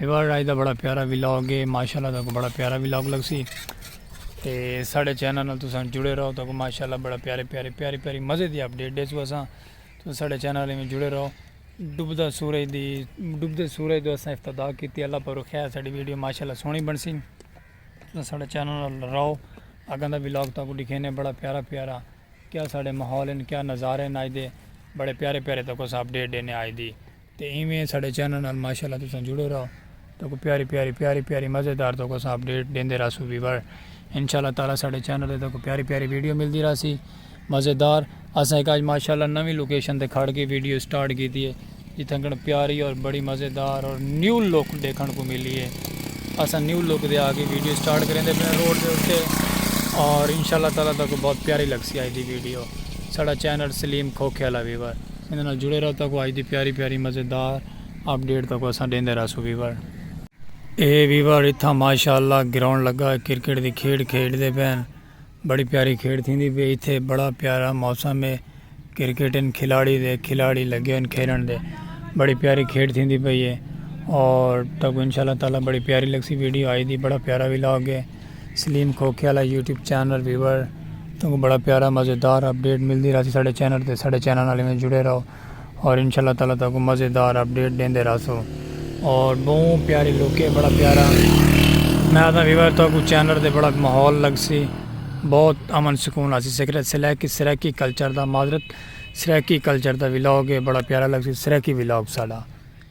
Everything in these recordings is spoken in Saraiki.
ویوارڈ آج دا بڑا پیارا ولاگ ہے ماشاءاللہ تہاکوں بڑا پیارا ولاگ لگسی تے ساڈے چینل نال تساں جڑے رہو تہاکوں ماشاءاللہ بڑا پیارے پیارے پیاری پیاری مزے دی اپڈیٹ ڈیسوں اساں تساں ساڈے چینل ایویں جڑے رہو ڈوبدا سورج دی ڈوبدے سورج دو اساں افتدا کیتی اللہ پر خیر ساڈی ویڈیو ماشاءاللہ سونی بنسی تساں ساڈے چینل نال رہو اگاں دا ولاگ تہاکوں دکھینے بڑا پیارا پیارا کیا ساڈے ماحول ہیں کیا نظارے ہیں آج دے بڑے پیارے پیارے تہاکوں اساں اپڈیٹ دینے آج دی تے ایویں ساڈے چینل نال ماشاءاللہ تساں جڑے رہو تہاکوں پیاری پیاری پیاری پیاری مزیدار تہاکوں اساں اپڈیٹ ڈیندے رہسوں ویور انشاءاللہ تعالی ساڈے چینل تے تہاکوں پیاری پیاری ویڈیو ملدی رہسی مزیدار اساں ہک اج ماشاءاللہ نویں لوکیشن تے کھڑ کے ویڈیو سٹارٹ کیتی ہے جتھنکن پیاری اور بڑی مزیدار اور نیو لک ڈیکھن کو ملی ہے اساں نیو لک دے آ کے ویڈیو سٹارٹ کریندے پنے روڈ دے اتے اور انشاءاللہ تعالی تہاکوں بہت پیاری لگسی اج دی ویڈیو ساڈا چینل سلیم کھوکھے والا ویور ایندے نال جڑے رہو تاکو اج دی پیاری پیاری مزیدار اپ ڈیٹ تاکو اساں ڈیندے رہسوں ویور۔ اے ویور اتھاں ماشاءاللہ گراؤنڈ لگا ہے کرکٹ دی کھیڈ کھیڈ دے پین بڑی پیاری کھیڈ تھیندی پی اتھے بڑا پیارا موسم ہے کرکٹ ان کھلاڑی دے کھلاڑی لگے ان کھیلن دے بڑی پیاری کھیڈ تھیندی پی ہے اور تاکو انشاءاللہ تعالی بڑی پیاری لگسی ویڈیو اج دی بڑا پیارا ولاگ ہے۔ سلیم کھوکھے آلا یوٹیوب چینل ویور توں کو بڑا پیارا مزیدار اپڈیٹ ملدی رہسی ساڈے چینل تے ساڈے چینل نال ایویں جڑے رہو اور انشاءاللہ تعالی تہاکوں کو مزیدار اپڈیٹ ڈیندے رہسوں اور بہوں پیاری لوکے بڑا پیارا میں آدھا ویور تہاکوں کو چینل تے بڑا ماحول لگسی بہت امن سکون آسی سکرت سلیکی سریکی کلچر دا معذرت سریکی کلچر دا ولاگ ہے بڑا پیارا لگسی سریکی ولاگ ساڈا.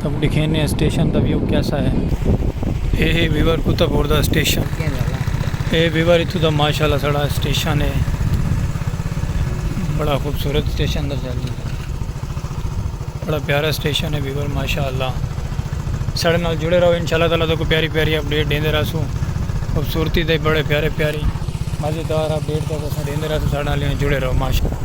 تب دکھینے ہیں اسٹیشن دا ویو کیسا ہے اے ہے ویور کتا پور دا اسٹیشن اے ویور اتھو دا ماشاءاللہ سڑا اسٹیشن ہے بڑا خوبصورت اسٹیشن دا جالی بڑا پیارا اسٹیشن ہے ویور ماشاءاللہ سڑے نال جڑے رہو انشاءاللہ تعالیٰ تو کو پیاری پیاری اپڈیٹ دیندے رہا سو خوبصورتی دے بڑے پیارے پیاری مزیدار اپڈیٹ دا سڑے نال جڑے رہو ماشاءاللہ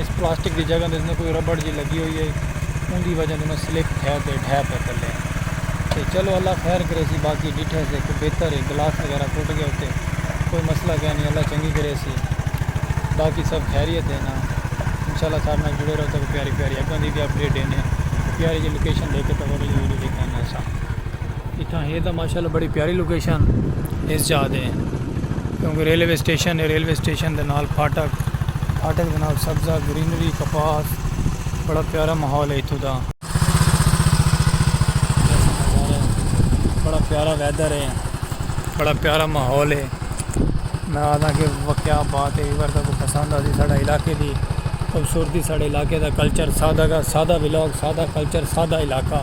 اس پلاسٹک دی جگہ تے کوئی ربڑ جی لگی ہوئی ہے اون دی وجہ توں سلپ تھے تے ڈھے پے تلے تے چلو اللہ خیر کرے سی باقی ڈٹھے سے کوئی بہتر ہے گلاس وغیرہ ٹوٹ گیا تے کوئی مسئلہ کہہ نہیں اللہ چنگی کرے سی باقی سب خیریت ہے نا انشاءاللہ سارے نال جڑے رہو تو پیاری پیاری اگاں دی بھی اپڈیٹ دینے پیاری جی لوکیشن دے کے تو ویڈیو ویڈیو دکھانا سا اتھاں ہے تاں ماشاءاللہ بڑی پیاری لوکیشن اس جا دے کیونکہ ریلوے سٹیشن ہے ریلوے سٹیشن دے نال پھاٹک پھاٹک دے نال سبزہ گرینری کپاس بڑا پیارا ماحول ہے اتھوں دا بڑا پیارا ویدر ہے بڑا پیارا ماحول ہے میں آدھا کہ واقعہ بات ہے ایور تک پسند آتی ساڑھا علاقے دی خوبصورتی ساڑھے علاقے دا کلچر سادہ کا سادہ ولاگ سادہ کلچر سادہ علاقہ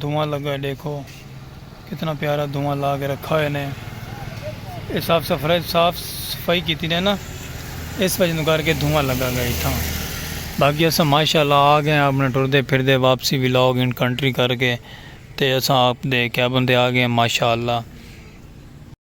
دھواں لگا ہے ڈیکھو کتنا پیارا دھواں لا کے رکھا ہوئے نے اے صاف سفرائی صاف صفائی کیتی نے نا اس وجہ کر کے دھواں لگا گئے تھا باقی اسا ماشاءاللہ آ گئے اپنے ٹر دے پھر دے واپسی بھی لاگ انٹر کنٹری کر کے تے اسا آپ دے کیبن دے آ گئے ماشاءاللہ۔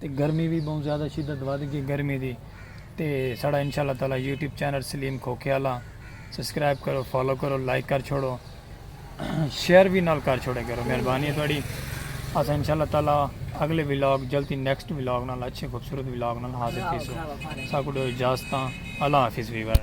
تے گرمی وی بہوں زیادہ شدت ودھ گئی گرمی دی تے ساڑا انشاء اللہ تعالی یوٹیوب چینل سلیم کھوکھے آلا سبسکرائب کرو فالو کرو لائک کر چھوڑو شیئر وی نال کر چھوڑے کرو مہربانی ہے تھوڑی اسا انشاء اللہ تعالی اگلے ولاگ جلدی نیکسٹ ولاگ نال اچھے خوبصورت ولاگ نال حاضر تھی سو ساکو دو اجازت اللہ حافظ ویور